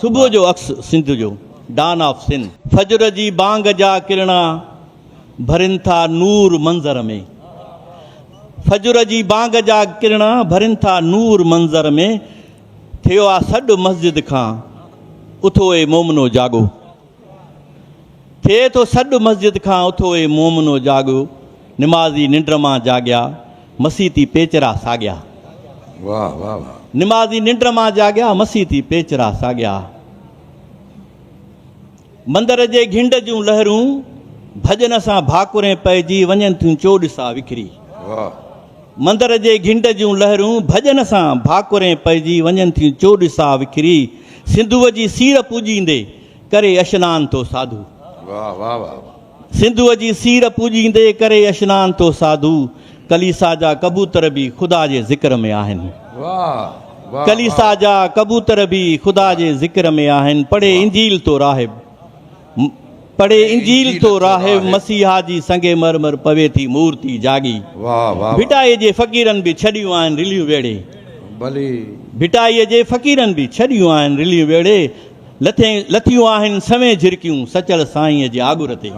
صبح جو عڪس سنڌ جو، ڊان آف سن. فجر جي بانگ جا ڪرڻا ڀرين ٿا نور منظر ۾. فجر جي بانگ جا ڪرڻا ڀرين ٿا نور منظر ۾. ٿيو آ سڏ مسجد کان، اٿو اي مومنو جاڳو. ٿئي ٿو سڏ مسجد کان اٿو اي مومنو جاڳو نمازي ننڊ مان جاڳيا مسي تي پيچرا ساڳيا واھ واھ واھ نمازي ننڊ مان جاڳيا مسي تي پيچرا ساڳيا مندر جي گھنڊ جون لهرون ڀڄن سان ڀاڪرين پئجي وڃن ٿيون چوڏسا وکري واھ مندر جي گھنڊ جون لهرون ڀڄن سان ڀاڪرين پئجي وڃن ٿيون چوڏسا وکري سنڌوء جي سير پوڄيندي، ڪري اشنان تو ساڌو. واھ واھ واھ واھ. سنڌوء جي سير پوڄيندي، ڪري اشنان تو ساڌو. ڪليسا جا ڪبوتر به خدا جي ذڪر ۾ آهن. واھ واھ. ڪليسا جا ڪبوتر به خدا جي ذڪر ۾ آهن. پڙهي انجيل تو راهب. پڙهي انجيل ٿو راهب مسيحا جي سنگ مرمر پوي ٿي مورتي جاڳي ڀٽائي جي فقيرن به ڇڏيون آهن رليون ويڙهي ڀٽائي جي فقيرن به ڇڏيون آهن رليون ويڙهي لٿيون آهن سوين جهرڪيون سچل سائينء جي آڳر تي.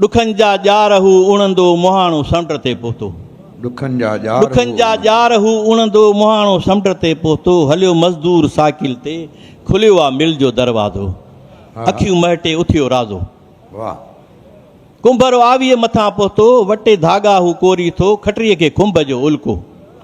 ڏکن جا ڄار هو اڻندو مهاڻو سمنڊ تي پهتو. ڏکن جا ڄار هو ڏکن جا اڻندو. ڄار هو اڻندو مهاڻو سمنڊ تي پهتو هليو مزدور سائيڪل تي کليو آ مل جو دروازو ها. اکيون مهٽي اٿيو رازو. واهه. ڪنڀر آويء مٿان پهتو وٽي ڌاڳا هو ڪوري ٿو کٽريء کي کنڀ جو الڪو.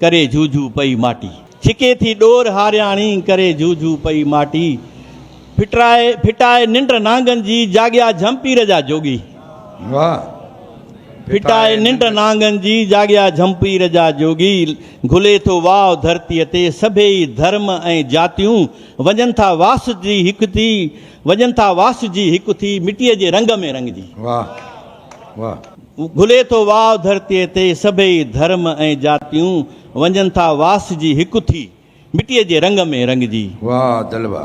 ڪري جهوجهو پئي ماٽي. ڇڪي ٿي ڏور هارياڻي، ڪري جهوجهو پئي ماٽي. ڦٽرائي ڦٽائي ننڊ نانگن جي، جاڳيا جهمپير جا جوڳي. واهه. ڦٽائي ننڊ نانگن جي، جاڳيا جهمپير جا جوڳي. گهلي ٿو واء ڌرتيء تي، سڀيئي ڌرم ۽ جاتيون. وڃن ٿا واسجي هڪ ٿي، وڃن ٿا واسجي هڪ ٿي، مٽيء جي رنگ ۾ رنگجي. واهه. واهه. گهلي ٿو واء ڌرتيء تي سڀئي ڌرم ۽ جاتيون وڃن ٿا واسجي هڪ ٿي مٽيء جي رنگ ۾ رنگجي. واهه دلوا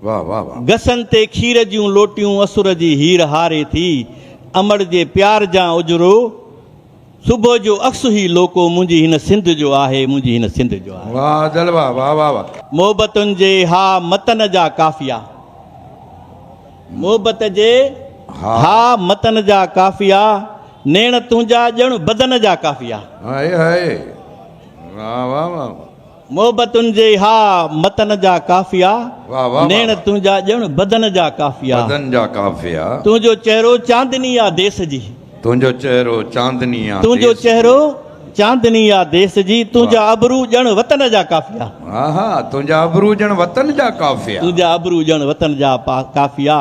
واهه واهه واهه. گسن تي کير جون لوٽيون اسر جي هير هاري ٿي امڙجي پيار جان اجرو. صبح جو عڪس هي لوڪو منهنجي هن سنڌ جو آهي منهنجي هن سنڌ جو آهي. واھ جلوه واھ واھ واھ. محبتن جي ھا متن جا قافيا محبت جي ھا متن جا قافيا نيڻ تنھنجا ڄڻ بدن جا قافيا. هائي هائي واھ واھ واھ. محبتن جي اها متن جا قافيا نيڻ تنهنجا ڄڻ بدن جا قافيا بدن جا قافيا تنهنجو چهرو چاندني آ ديس جي تنهنجو چهرو چاندني آ تنهنجو چهرو چاندني آ ديس جي تنهنجا ابرو ڄڻ وطن جا قافيا آها تنهنجا ابرو ڄڻ وطن جا قافيا تنهنجا ابرو ڄڻ وطن جا قافيا.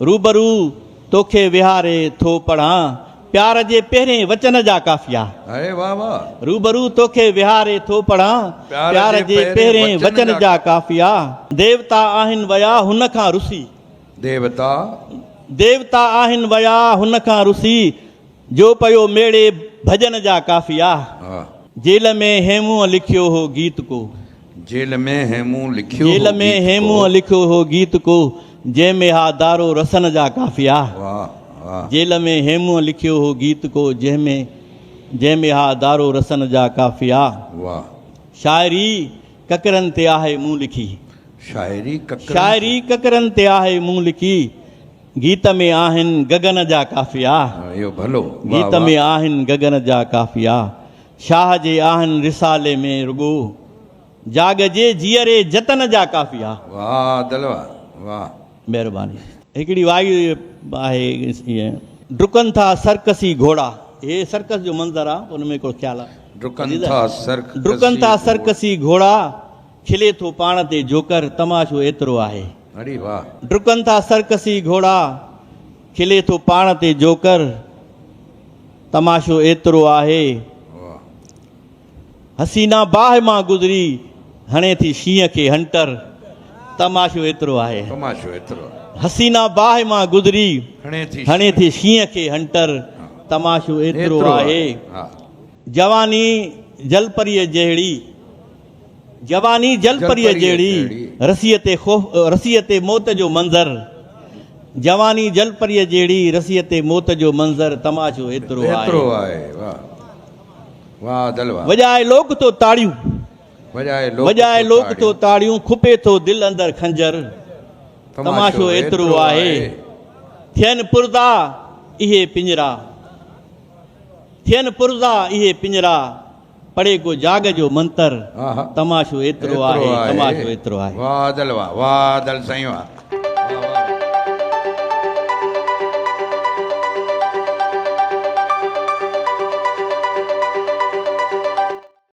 روبرو توکي ويهاري ٿو پڙهان. پيار جي پهرين وچن جا قافيا. هاء واهه واهه. روبرو توکي ويهاري ٿو پڙهان. پيار جي پهرين وچن جا قافيا. ديوتا آهن ويا هن کان رسي. ديوتا. ديوتا آهن ويا هن کان رسي. جو پيو ميڙي ڀڄن جا قافيا. جيل ۾ هيمونء لکيو هو گيت ڪو. جيل ۾ هيمونء لکيو هو گيت ڪو. جيل ۾ هيمونء لکيو هو گيت ڪو. جنهن ۾ ها دارو رسن جا قافيا. جيل ۾ هيمونء لکيو هو گيت ڪو. جنهن ۾ جنهن ۾ ها دارو رسن جا قافيا. شاعري ڪڪرن تي آهي مون لکي. شاعري ڪڪرن تي آهي مون لکي. گيت ۾ آهن گگن جا قافيا. گيت ۾ آهن گگن جا قافيا. شاهه جي آهن رسالي ۾ رڳو. جاڳ جي جيئري جتن جا قافيا. واهه دل واهه. مهرباني. هڪڙي وائي آهي ائين. ڊڪن ٿا سرڪسي گهوڙا. هي سرڪس جو منظر آ ان ۾ هڪڙو خيال آ. ڊڪن ٿا سرڪسي گهوڙا. کلي ٿو پاڻ تي جوڪر، تماشو ايترو آهي. اري واه. ڊڪن ٿا سرڪسي گهوڙا، کلي ٿو پاڻ تي جوڪر، تماشو ايترو آهي. واه. حسينا باهه مان گذري، هڻي ٿي شينهن کي هنٽر، تماشو ايترو آهي. تماشو ايترو آهي. حسينا باهه مان گذري، هڻي ٿي شينهن کي هنٽر، تماشو ايترو آهي. جواني جلپريء جهڙي. جواني جل پريء جهڙي، رسيء تي موت جو منظر جواني جل پريء جهڙي، رسيء تي موت جو منظر تماشو ايترو آهي. وڄائي لوڪ تو تاڙيون، وڄائي لوڪ تو تاڙيون کپي ٿو دل اندر خنجر تماشو ايترو آهي. ٿين پرزا اهي پڃرا، ٿين پرزا اهي پڃرا. پڙهي ڪو جاڳ جو منتر، تماشو ايترو آهي، تماشو ايترو آهي. واھ ادل واھ واھ ادل سائين واھ.